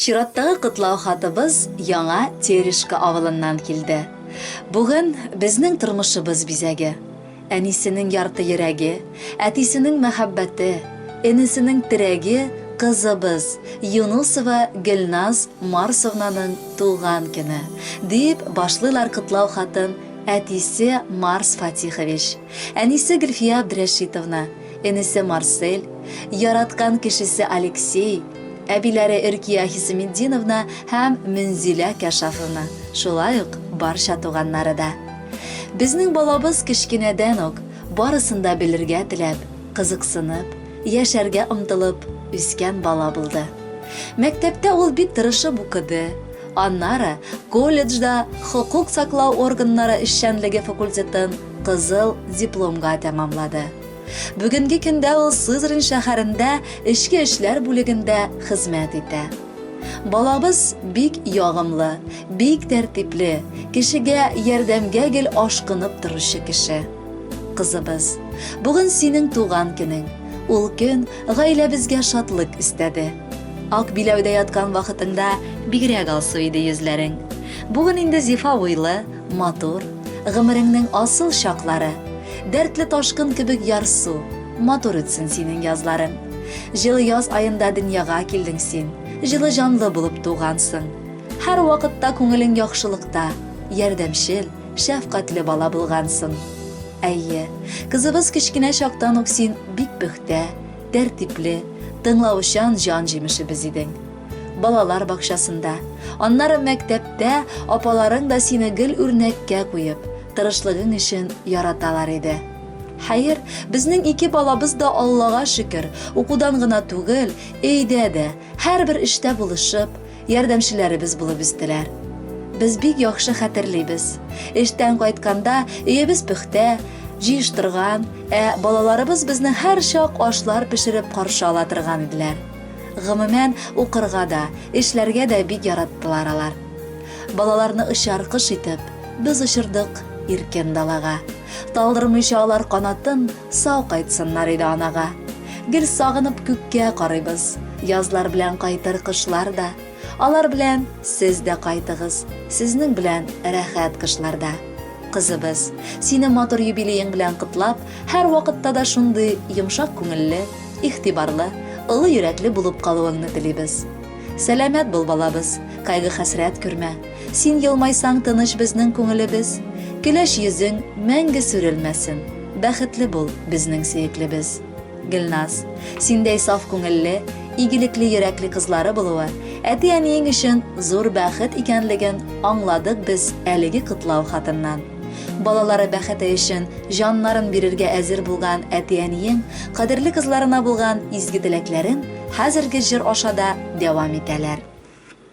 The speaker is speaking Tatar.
Чираттагы котлау хатыбыз Яңа Терешка авылыннан килде. Бүген безнең тормышыбыз бизәге, әнисенең ярты йөрәге, әтисенең мәхәббәте, энесенең терәге кызыбыз Юнусова Гөлназ Марсовнаның туган көне, дип башлыйлар котлау хатын әтисе Марс Фатихович, әнисе Гөлфия Абдрәшитовна, энесе Марсель, яраткан кешесе Алексей, әбиләре Иркия Хисеметдиновна һәм Мөнзилә Кәшафовна, шулай ук барча туганнары да. Безнең балабыз кечкенәдән үк барысын да белергә теләп, кызыксынып, яшәргә омтылып үскән бала булды. Мәктәптә ул бик тырышып укыды, аннары колледжда хокук саклау органнары эшчәнлеге факультетын кызыл дипломга тәмамлады. Бүгенге көндә ул Сызрань шәһәрендә эчке эшләр бүлегендә хезмәт итә. Балабыз бик ягымлы, бик тәртипле, кешегә ярдәмгә гел ашкынып торучы кеше. Кызыбыз, бүген синең туган көнең. Ул көн гаиләбезгә шатлык өстәде. Ак биләүдә яткан вакытыңда бигрәк алсу иде йөзләрең. Бүген инде зифа буйлы, Матур, гомереңнең асыл чаклары, Дәртле ташкын кебек ярсу, Матур үтсен синең язларың. Җылы яз аенда дөньяга килдең син, Җылы җанлы булып тугансың. Һәрвакытта күңелең яхшылыкта, Ярдәмчел, шәфкатьле бала булгансың. Әйе, кызыбыз кечкенә чактан ук син бик пөхтә, тәртипле, тыңлаучан җан җимешебез идең. балалар бакчасында, аннары мәктәптә апаларың да сине гел үрнәккә куеп, тырышлыгың өчен яраталар иде. Хәер, безнең ике балабыз да Аллага шөкер, укудан гына түгел, өйдә дә, һәрбер эштә булышып, ярдәмчеләребез булып үстеләр. Без бик яхшы хәтерлибез. Эштән кайтканда өебез пөхтә, җыештырган, ә балаларыбыз безне һәрчак ашлар пешереп каршы ала торган иделәр. Гомумән, укырга да, эшләргә дә бик яраттылар алар. Балаларны очар кош итеп, без очырдык иркен далага. Талдырмыйча алар канатын, сау кайтсыннар иде анага. Гел сагынып күккә карыйбыз, язлар белән кайтыр кошлар да. Алар белән сез дә кайтыгыз, сезнең белән рәхәт кышларда. Кызыбыз, сине матур юбилеең белән котлап, һәрвакытта да шундый йомшак күңелле, игътибарлы, олы йөрәкле булып калуыңны телибез. Сәламәт бул, балабыз, кайгы-хәсрәт күрмә. Син елмайсаң тыныч безнең күңелебез. Көләч йөзең мәңге сүрелмәсен. Бәхетле бул, безнең сөеклебез. Гөлназ, синдәй саф күңелле, игелекле йөрәкле кызлары булуы, әти-әниең өчен зур бәхет икәнлеген аңладык без әлеге котлау хатыннан. Балалары бәхете өчен җаннарын бирергә әзер булган әти-әниең кадерле кызларына булган изге теләкләрен хәзерге җыр аша да дәвам итәләр.